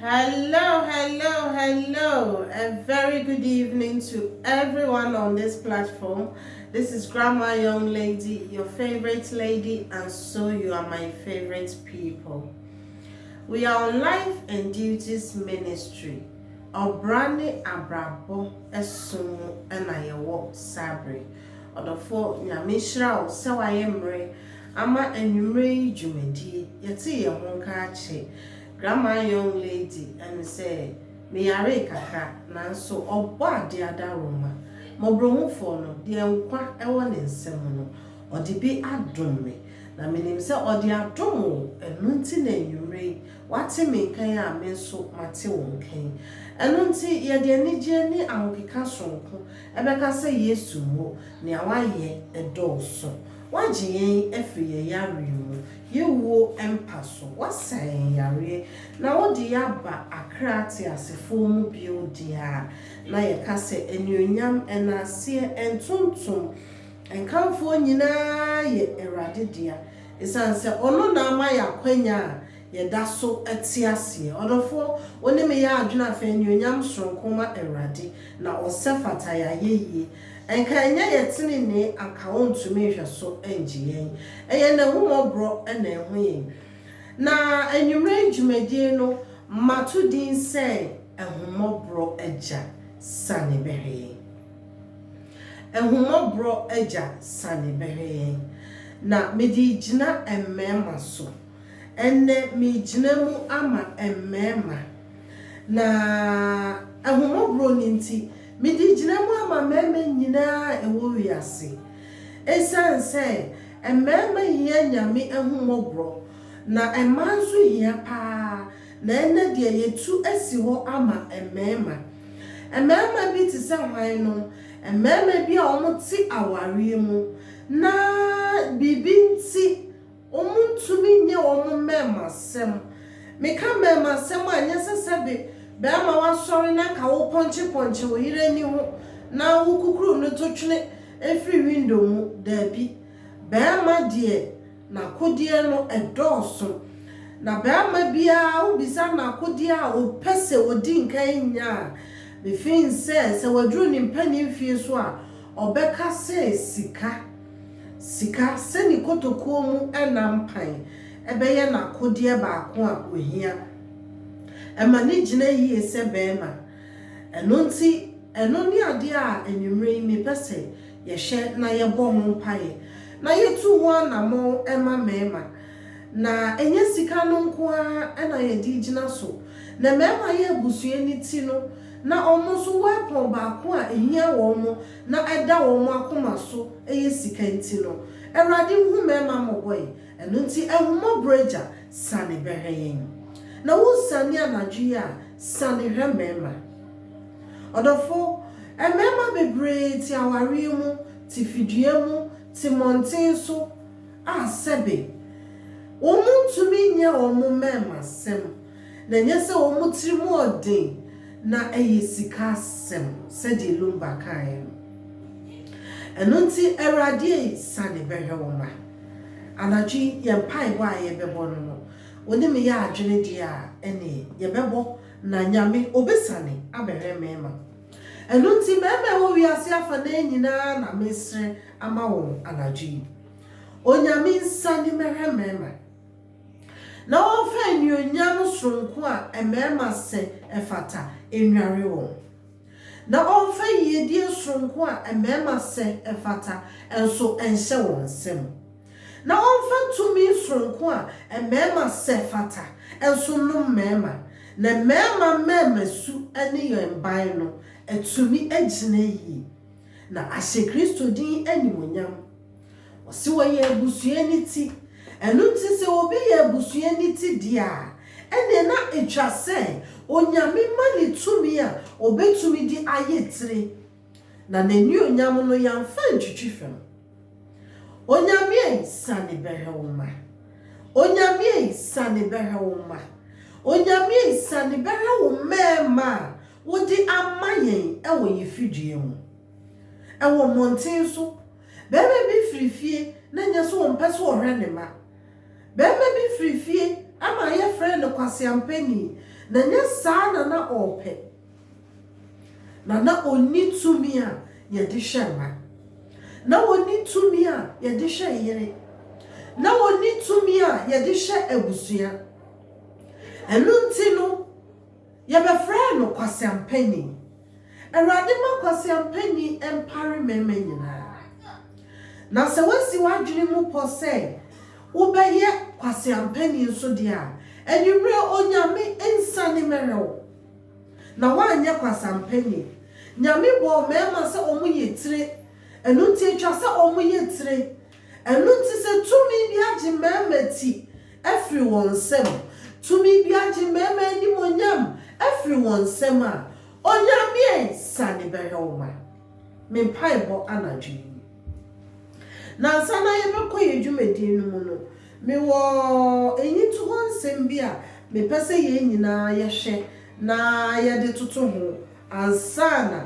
Hello hello hello a very good evening to everyone on this platform this is grandma young lady your favorite lady and so you are my favorite people we are on life and duties ministry ɔbra ne abrabɔ ɛsom mu ɛna yɛwɔ sabere ɔdɔfoɔ nyame nhyira wo sɛ wayɛ mmerɛ ama anwummere yi dwumadie. Yɛte yɛn ho nka akye Grandma Young Lady ɛne sɛ meyaree kakra nanso ɔbɔ adeɛ adaworoma. Mmɔborɔhufoɔ no, deɛ nkwa wɔ ne nsa mu no, ɔde bi adom me. Na menim sɛ ɔde adom wo, ɛno nti na anwummere yi woate me nka yi a me nso mate wo nka yi. Ɛno nti yɛde anigyeɛ ne ahokeka sononko bɛka sɛ Yesu mmo, nea woayɛ dɔɔso. Woagye yɛn afiri yɛn yareɛ mu, yɛn wuo mpa so, woasa yɛn yareɛ, na wode yɛn aba akra teasefoɔ mu bio deɛ a, na yɛka sɛ, Anuonyam, nnaaseɛ, ntontom, nkamfoɔ nyina ara yɛ Awurade dea, esiane sɛ Ɔno na ama yɛn akwanya a yɛda so te aseɛ. Ɔdɔfoɔ, wo ne me yɛ adwene afei, anuonyam sononko ma Awurade, na ɔsɛ fata yɛn ayɛyie, Anka ɛnyɛ yɛn tenenee anka ɔntumi nhwɛ so ngye yɛn, ɛyɛ N'ahummɔborɔ na ɛho yɛn. Na anwummerɛ yi dwumadie no, mato din sɛ Ahummɔborɔ Agya Sane Bɛhwɛ Yɛn. Ahummɔborɔ Agya Sane Bɛhwɛ Yɛn. Na mede regyina mmarima so. Ɛnnɛ meregyina mu ama mmarima. Na ahummɔborɔ no nti, Mede gyina mu ama mmarima nyinaa a ɛwɔ wiase. Esiane sɛ mmarima hia Nyame ahummɔborɔ, na mmaa nso hia paa, na ɛnnɛ deɛ yɛatu asi hɔ ama mmarima. Mmarima bi te sɛ hwan no? Mmarima bi a wɔte awareɛ mu na biribi nti, Wɔntumi nyɛ wɔn mmarimasɛm. Meka mmarimasɛm a, nyɛ sɛ sɛbe barima woasɔre na anka wopɔnkyepɔnkye wo yere ani ho na wokukuru no to twene firi window mu. Daabi. Barima deɛ, n'akodeɛ no, ɛdɔɔso. Na barima biara, wobisa no akodeɛ a, ɔpɛ sɛ ɔdi nkan nya a. Mefeel sɛ, sɛ waduru ne mpanin fie so a, ɔbɛka sɛ sika. Sika, sɛ ne kotokuo mu ɛna mpan, bɛyɛ n'akodeɛ baako a ɔhia. Ɛma no gyina yie sɛ barima. Ɛno nti, ɛno ne adeɛ a anwummerɛ yi mepɛ sɛ yɛhwɛ na yɛbɔ ho mpaeɛ, na yɛtu ho anamɔn ma mmarima. Na ɛnyɛ sika no nko ara na yɛde regyina so. Na mmarima yɛ abusua no ti no, na wɔn nso wɔrepɔn baako a ɛhia wɔn. na ɛda wɔn akoma so yɛ sika nti no, Awurade nhu mmarima mmɔbɔe, ɛno nti ahummɔborɔ Agya, sane bɛhwɛ yɛn. Na wonsiane anadwo yi a, sane hwɛ mmarima. Ɔdɔfo, mmarima bebree te awareɛ mu, te fidua mu, te mmɔnten so, a sɛbe, wɔntumi nyɛ wɔn mmarimasɛm, na ɛnyɛ sɛ wɔn tiri mu yɛ den na ɛyɛ sika asɛm, sɛdeɛ Lumba kaeɛ no. Ɛno nti, Awurade ei, sane bɛhwɛ wo mma. Anadwo yi, yɛn mpaebɔ a yɛbɛbɔ no no, wo ne me yɛ adwene deɛ a, ɛnneɛ, yɛbɛbɔ, na Nyame, Ɔbɛsane abɛhwɛ mmarima. Ɛno nti, mmarima a ɛwɔ wiase afanaa nyina ara na mesrɛ ama wɔn anadwo yi. Onyame nsane mmɛhwɛ mmarima. na wɔmfa anuonyam soronko a mmarima sɛ ɛfata nnware wɔn, na wɔmfa yiedie soronko a mmarima sɛ ɛfata nso nhyɛ wɔn nsam, na wɔmfa tumi soronko a mmarima sɛ fata nso nnom mmarima, na mmarima mmarimasu ne yɛn ban no atumi agyina yie, na ahyɛ Kristo din animuonyam. Ɔse wɔyɛ abusua no ti. Ɛno nti sɛ obi yɛ abusua no ti deɛ a, ɛneɛ na ɛtwa sɛ Onyame ma no tumi a ɔbɛtumi de ayɛ tire. Na N'anionyam no yɛamfa antwitwi fam. Onyame ei, sane bɛhwɛ wo mma. Onyame ei, sane bɛhwɛ wo mma. Onyame ei, sane bɛhwɛ wo mmɛɛma a wode ama yɛn wɔ yɛn fidua mu. Wɔ mmɔnten so, barima bi firi fie na ɛnyɛ sɛ ɔmpɛ sɛ ɔhwɛ ne mma. Barima bi firi fie ama yɛfrɛ no kwaseampani, na ɛnyɛ saa na na ɔrepɛ, na na ɔnni tumi a yɛde hwɛ mma. Na ɔnni tumi a yɛde hwɛ yere. Na ɔnni tumi a yɛde hwɛ abusua. Ɛno nti no. Yɛbɛfrɛɛ no kwaseampanyin. Awurade ma kwaseampanyin mpare mmarima nyinaa. Na sɛ woasi w'adwene mu pɔ sɛ wobɛyɛ kwaseampanyin nso deɛ a, anwummerɛ Onyame nsiane mmɛrɛ wo. Na woanyɛ kwaseampanyin. Nyame bɔɔ mmarima sɛ wɔyɛ tire. Ɛno nti ɛtwa sɛ wɔyɛ tire. Ɛno nti sɛ tumi bi agye mmarima ti afiri wɔn nsam, tumi bi agye mmarima animuonyam afiri wɔn nsam a, Onyame sane bɛhwɛ wo ma. Me mpaebɔ anadwo yi nie. Na ansa na yɛbɛkɔ yɛn dwumadie no mu no, mewɔ nnyintohɔ nsɛm bi a mepɛ sɛ yɛn nyinaa yɛhwɛ na yɛde toto ho ansa na.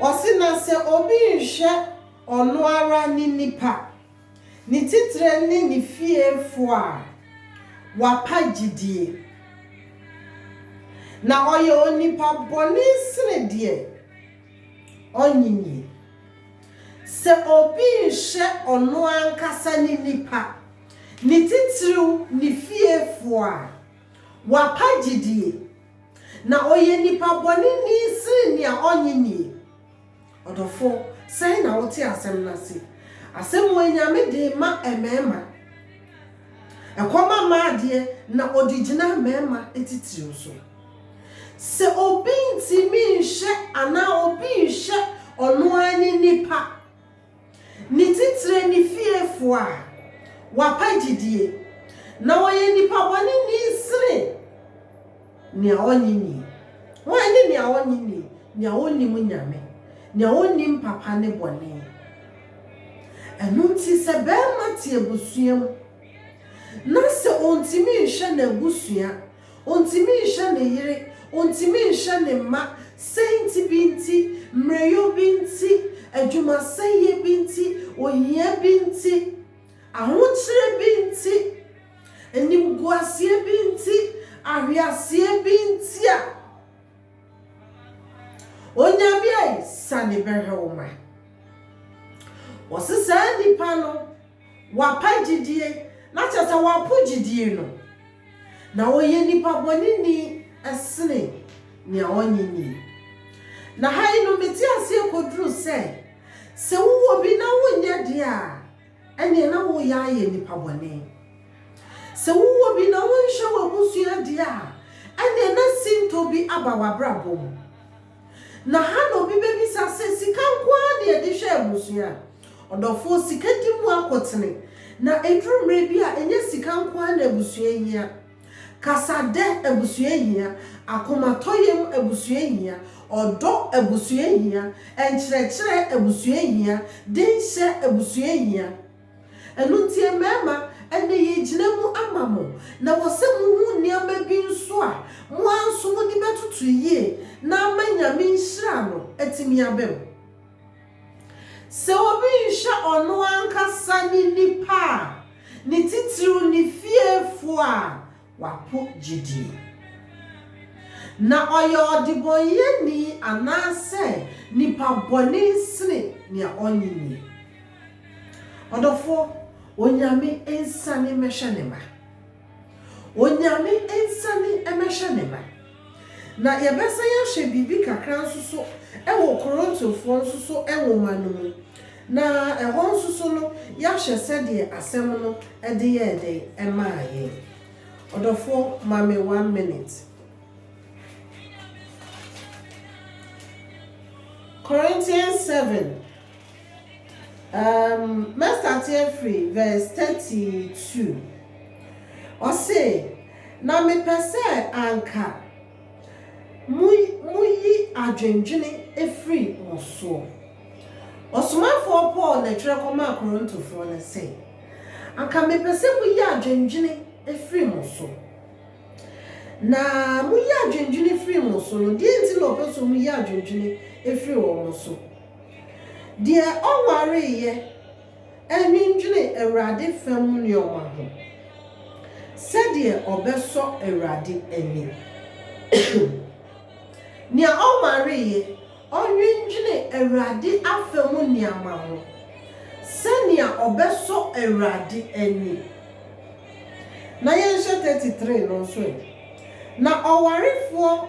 Ɔse na sɛ obi nhwɛ ɔno ara ne nipa, ne titire ne ne fiefoɔ a, wapa gyidie. Na ɔyɛ onipa bɔne sene deɛ ɔnnyinii. Sɛ obi nhwɛ ɔno ankasa ne nipa, ne titiriw ne fiefoɔ a, wapa gyidie. Na ɔyɛ nipa bɔne ni sene nea ɔnnye nie. Ɔdɔfo, sɛn na wote asɛm no ase? Asɛm wei Nyame dee ma ɛmɛɛma. Ɛkɔ ma ma adeɛ na ɔde gyina mɛɛma titiriw so. Sɛ obi ntimi nhwɛ anaa obi nhwɛ ɔno ara ne nipa. Ne titire ne fiefoɔ a wapa gyidie, na wɔyɛ nnipa bɔne ni sene nea ɔnnye nnie. Hwan ne nea ɔnnye nnie? Nea ɔnnim Nyame, nea ɔnnim papa ne bɔne. Ɛno nti sɛ barima te abusua mu na sɛ ɔntumi nhwɛ n'abusua, Ontumi nhwɛ ne yere, ontumi nhwɛ ne mma, sɛnti bi nti, mmerɛwyɛ bi nti, adwumasɛeɛ bi nti, ohia bi nti, ahokyerɛ bi nti, animguaseɛ bi nti, ahweaseɛ bi nti a, Onyame ae sane bɛhwɛ wo ma. Wɔse saa nnipa no. Wapae gyidie, na kyerɛ sɛ wapo gyidie no, na ɔyɛ nipa bɔneni sene nea ɔnye nie. Na ha yi no mete aseɛ kɔduru sɛ, sɛ wowɔ bi na wonyɛ deɛ a, ɛneɛ na woyɛ ayɛ nipa bɔne. Sɛ wowɔ bi na wonhwɛ w'abusua deɛ a, ɛneɛ na sintɔ bi aba w'abrabɔ mu. Na ha na obi bɛbisa sɛ, Sika nko ara na yɛde hwɛ abusua? Ɔdɔfoɔ, sika di mu akotene, na ɛduru mmerɛ bi a, ɛnyɛ sika nko ara na abusua hia. Kasadɛ abusua hia, akomatɔyam abusua hia, ɔdɔ abusua hia, nkyerɛkyerɛ abusua hia, denhyɛ abusua hia. Ɛno nti mmarima, ɛnnɛ yɛregyina mu ama mo, na wɔ sɛ mohu nneɛma bi nso a, mo ara nso mode bɛtoto yie na ama Nyame nhyira no atumi aba mu. Sɛ obi nhwɛ ɔno ankasa ne nnipa a, ne titiriw ne fiefoɔ a, wapo gyidi. Na ɔyɛ ɔdebɔneyɛni anaasɛ nipa bɔne sene nea ɔnnye nnie. Ɔdɔfoɔ, Onyame nsane mmɛhwɛ ne mma. Onyame nsane mmɛhwɛ ne mma. Na yɛbɛsan ahwɛ biribi kakra nso so wɔ Korintofoɔ nso so nwoma no mu, na ɛhɔ nso so no yɛahwɛ sɛdeɛ asɛm no de yɛɛ dɛn maa yɛn. Ɔdɔfoɔ, ma me one minute. Corinthians seven, um, mɛstate afiri verse thirty two. Ɔse, Na mepɛ sɛ anka mo moyi adwendwene firi mo soɔ. Ɔsomafoɔ Paul na ɛtwerɛ kɔmaa Korintofoɔ no sɛ, Anka mepɛ sɛ moyi adwendwene firi mo so. Na moyi adwendwene firi mo so no, deɛ nti na ɔpɛ sɛ ɔmuyi adwendwene firi wɔn so? Deɛ ɔnwareeɛ. Ɛnnwendwene Awurade fam nnoɔma ho, sɛdeɛ ɔbɛsɔ Awurade ani. Nea ɔmmareeɛ, ɔnnwendwene Awurade afam nneɛma ho, sɛnea ɔbɛsɔ Awurade ani. Na yɛnhwɛ thirty three no nso ɛ. Na ɔwarefoɔ.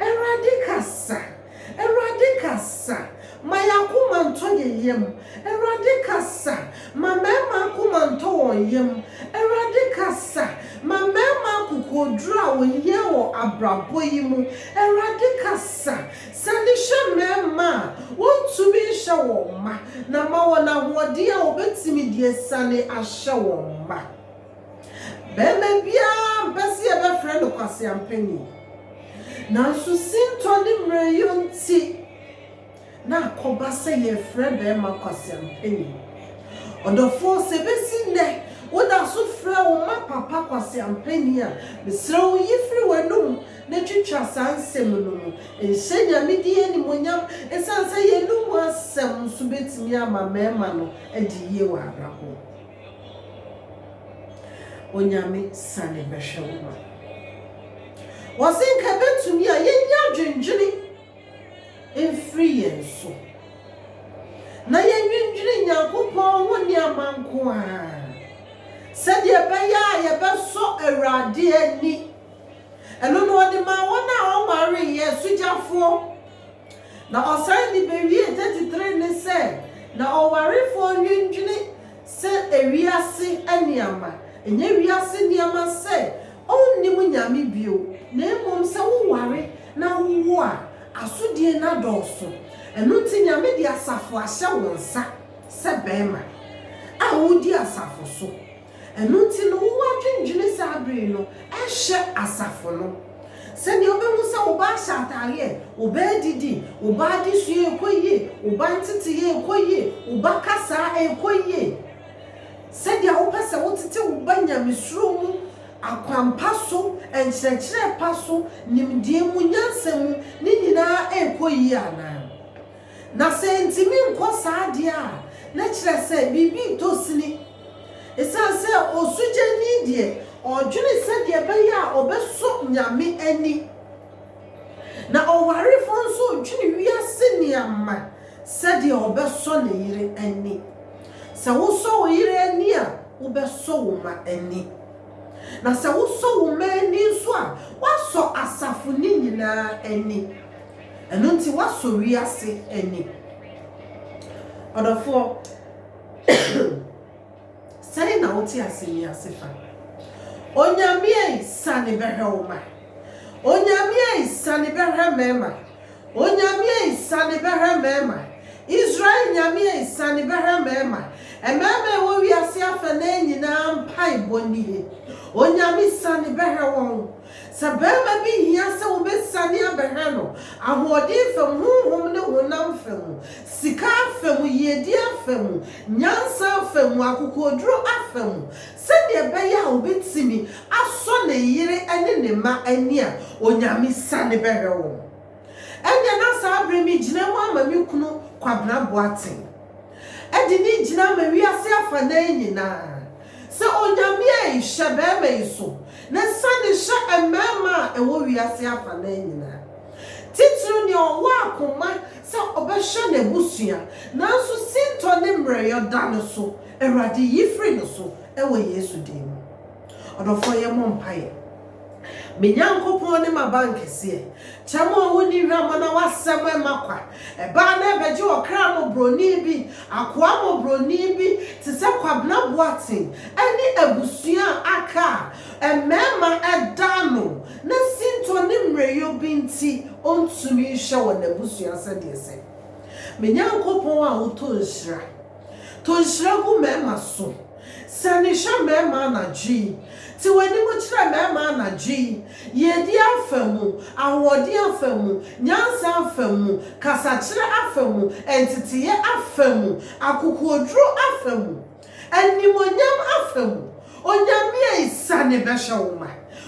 Awurade kasa, Awurade kasa, ma yɛn akoma ntɔ yɛn yam, Awurade kasa, ma mmarima akoma ntɔ wɔn yam, Awurade kasa, ma mmarima akokoɔduro a wɔhia wɔ abrabɔ yi mu, Awurade kasa, sane hyɛ mmarima a wɔntumi nhyɛ wɔn mma, na ma wɔn ahoɔden a wɔbɛtumi de asiane ahyɛ wɔn mma. Barima biara mpɛ sɛ yɛbɛfrɛ no kwaseampani, nanso sintɔ ne mmerɛwyɛ nti na akɔba sɛ yɛfrɛ barima kwaseampani. Ɔdɔfoɔ, sɛ ɛbɛsi nnɛ woda so frɛ wo mma papa kwaseampani a, mesrɛ wo yi firi w'anom na twitwa saa nsɛm no mu. Nhyɛ Nyame din animuonyam ɛsiane sɛ yɛn anom asɛm nso bɛtumi ama mmarima no adi yie wɔ abrabɔ mu. Onyame sane bɛhwɛ wo ma. Wɔse nka ɛbɛtumi a yɛnyi adwendwene mfiri yɛn so na yɛnnwendwene Nyankopɔn ho nneɛma nko ara sɛdeɛ ɛbɛyɛ a yɛbɛsɔ Awurade ani. Ɛno na ɔde maa wɔn a wɔnwareeɛ, asugyafoɔ. Na ɔsan de bewie 33 ne sɛ, Na ɔwarefoɔ nnwendwene sɛ ewiase nneɛma, ɛnyɛ wiase nneɛma sɛ ɔnnim Nyame bio, na mmom sɛ woware na wowo a, asodie no adɔɔso. Ɛno nti Nyame de asafo ahyɛ wo nsa sɛ bɛɛma a wodi asafo so. Ɛno nti no, wo ara dwendwene saa bere yi no hyɛ asafo no. Sɛnea wubehu sɛ wo ba ahyɛ atade ɛ, wo ba adidi, wo ba adesua rekɔ yie, wo ba nteteyɛ rekɔ yie, wo ba kasa rekɔ yie, sɛnea wopɛ sɛ wotete wo ba nyamesuro mu, akwampa so, nkyerɛkyerɛ pa so, nimdeɛ mu, nyansa mu, ne nyinaa rekɔ yie anaa? Na sɛ entumi nkɔ saa de a, na kyerɛ sɛ biribi retɔ sini. Esiane sɛ osugyani deɛ, ɔdwene sɛdeɛ ɛbɛyɛ a ɔbɛsɔ Nyame ani, na ɔwarefoɔ nso dwene wiase nneɛma sɛdeɛ ɔbɛsɔ ne yere ani. Sɛ wosɔ wo yere ani a, wobɛsɔ wo mma ani. Na sɛ wosɔ wo mma ani nso a, woasɔ asafo no nyinaa ani. Ɛno nti, woasɔ wiase ani. Ɔdɔfoɔ. Sɛn na wote asɛm yi ase fa? Onyame ei, sane bɛhwɛ wo mma. Onyame ei, sane bɛhwɛ mmarima. Onyame ei, sane bɛhwɛ mmarima. Israel Nyame ei, sane bɛhwɛ mmarima. Mmarima a ɛwɔ wiase afanaa nyinaa mpaebɔ nie. Onyame, sane bɛhwɛ wɔn. Sɛ barima bi hia sɛ wobesiane abɛhwɛ no, ahoɔden fa mu, honhom ne honam fa mu, sika afa mu, yiedie afa mu, nyansa afa mu, akokoɔduro afa mu, sɛdeɛ ɛbɛyɛ a ɔbɛtumi asɔ ne yere ne ne mma ani a, Onyame siane bɛhwɛ wɔn. Ɛnneɛ na saa berɛ megyina mu ama me kunu Kwabena Boateng de no gyina ama wiase afanan nyinaa. Sɛ Onyame a nhyɛ bɛɛma yi so, na sane hyɛ mmɛɛma a ɛwɔ wiase afanaa nyinaa, titiriw nea ɔwɔ akoma sɛ ɔbɛhwɛ n'abusua, nanso sintɔ ne mmerɛyɔ da no so, Awurade yi firi no so wɔ Yesu din mu. Ɔdɔfoɔ yɛmmɔ mpaeɛ. Me Nyankopɔn ne m'abankɛseɛ. Kyɛ mo a monni hwammɔ na w'asɛm mma kwa. Ɛbaa na ɛbɛgye ɔkra mmɔborɔni bi, akoa mmɔborɔni bi te sɛ Kwabena Boateng ne abusua a aka a mmarima da ano na sintɔ ne mmerɛyɔ bi nti ɔntumi nhwɛ wɔn abusua sɛdeɛ ɛsɛ. Me Nyankopɔn a wotɔ nhyira, tɔ nhyira gu mmarima so. Sane hwɛ mmarima anadwo yi. Te w'anim kyerɛ mmarima anadwo yi, yiedie afa mu, ahoɔden afa mu, nyansa afa mu, kasakyerɛ afa mu, nteteeɛ afa mu, akokoɔduro afa mu, animuonyam afa mu. Onyame ei, sane bɛhwɛ wo mma.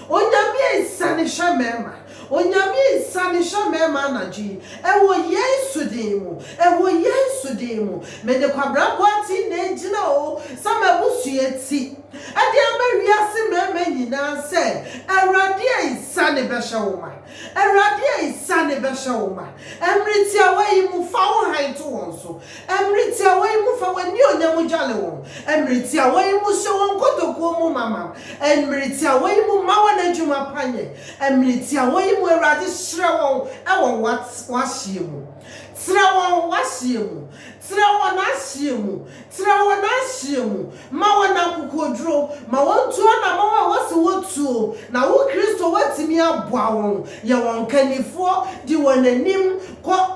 Onyame ei, sane hwɛ mmarima. Onyame nsiane hyɛ mɛma anadwo yi Ɛwɔ Yesu din mu, Ɛwɔ Yesu din mu Mede kwabrabɔ ati na ɛgyina o Sɛ m'abusua ti Ɛde ama wiase mɛma nyinaa sɛ Awurade nsiane bɛhyɛ wo ma Awurade nsiane bɛhyɛ wo ma Ɛmmere tiawa yi mu fa wo hann to wɔn so Mmere tiawa yi mu fa w'anuonyam dwale wɔn, mmere tiawa yi mu hyɛ wɔn kotokuo mu ma ma, mmere tiawa yi mu ma wɔn adwuma pa nyɛ, mmere tiawa yi mu Awurade hyerɛ wɔn wɔ w'ahyeɛ mu. Trɛ wɔn w'ahyeɛ mu, trɛ wɔn ahyeɛ mu, trɛ wɔn ahyeɛ mu, ma wɔn akokoɔduro, ma wɔntu anamɔn a wose wɔtuo, na wo Kristo woatumi aboa wɔn, yɛ wɔn kannifoɔ, di wɔn anim kɔ.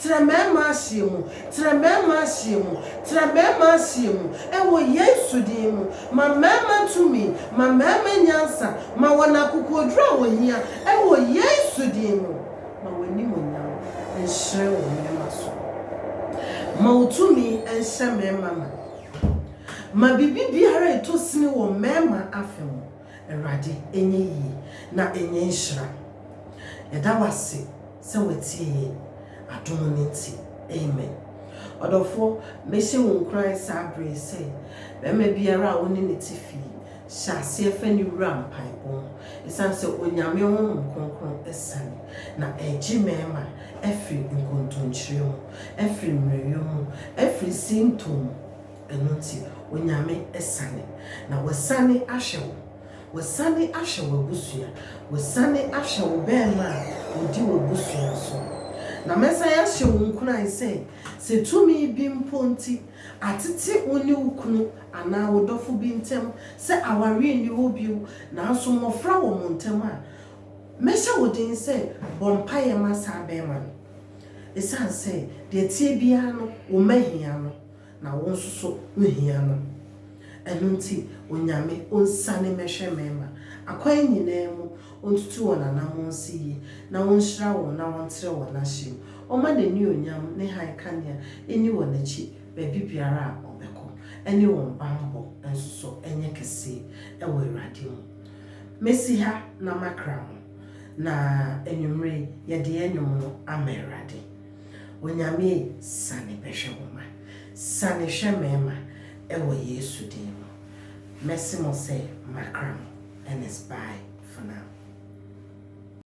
Tra mɛɛma aseɛ mu, tra mɛɛma aseɛ mu, tra mɛɛma aseɛ mu, ɛwɔ Yesu din mu. Ma mɛɛma tumi, ma mɛɛma nyansa, ma wɔn akokoɔduro a wɔhia, ɛwɔ Yesu din mu. Ma w'animuonyam nhyerɛn wɔ mɛɛma so. Ma wo tumi nhyɛ mɛɛma ma. Ma biribi biara ɛtɔ sini wɔ mɛɛma afa mu. Awurade, ɛnyɛ yie na ɛnyɛ nhyira. Yɛda wo ase sɛ woatie yɛn adom no nti. Amen. Ɔdɔfoɔ, mɛhyɛ wo nkuran saa berɛ yi sɛ, barima biara a wo ne no te fie, hyɛ aseɛ fa no wura mpaebɔ mu, ɛsiane sɛ Onyame Honhom Kronkron asiane, na ɛregye mmarima afiri nkontomkyire mu, afiri mmerɛwyɛ mu, afiri sintɔ mu. Ɛno nti, Onyame asiane. Na wasiane ahwɛ wo. Wasiane ahwɛ w'abusua. Wasiane ahwɛ wo bɛɛma a odi w'abusua so no. Na mɛsan ahyɛ wo nkuran sɛ, sɛ tumi bi mpo nti atete wo ne wo kunu anaa wo dɔfo bi ntam sɛ aware nni hɔ bio nanso mmɔfra wɔ mo ntam a, mɛhyɛ wo den sɛ bɔ mpaeɛ ma saa bɛɛma no. Esiane sɛ deɛ ɛteɛ biara no, wo mma hia no. Na wo nso so wo hia no. Ɛno nti Onyame onsane mɛhwɛ mɛɛma, akwan nyinaa mu, ontutu wɔn anamɔn nsi yie, na onhyira wɔn na ɔntrɛ wɔn ahye mu, ɔma n'aniuonyam ne hann kanea nni wɔn akyi baabi biara a ɔbɛkɔ, ɛne wɔn banbɔ nso so nyɛ kɛseɛ ɛwɔ Awurade mu. Mɛsi ha na makra mo, na anwummerɛ yi yɛde yɛn nnwom no ama Awurade. Onyame ei sane bɛhwɛ wo ma Sane hwɛ me ma Ɛwɔ Yesu din mu Mɛse mo sɛ makra mo And it's bye for now.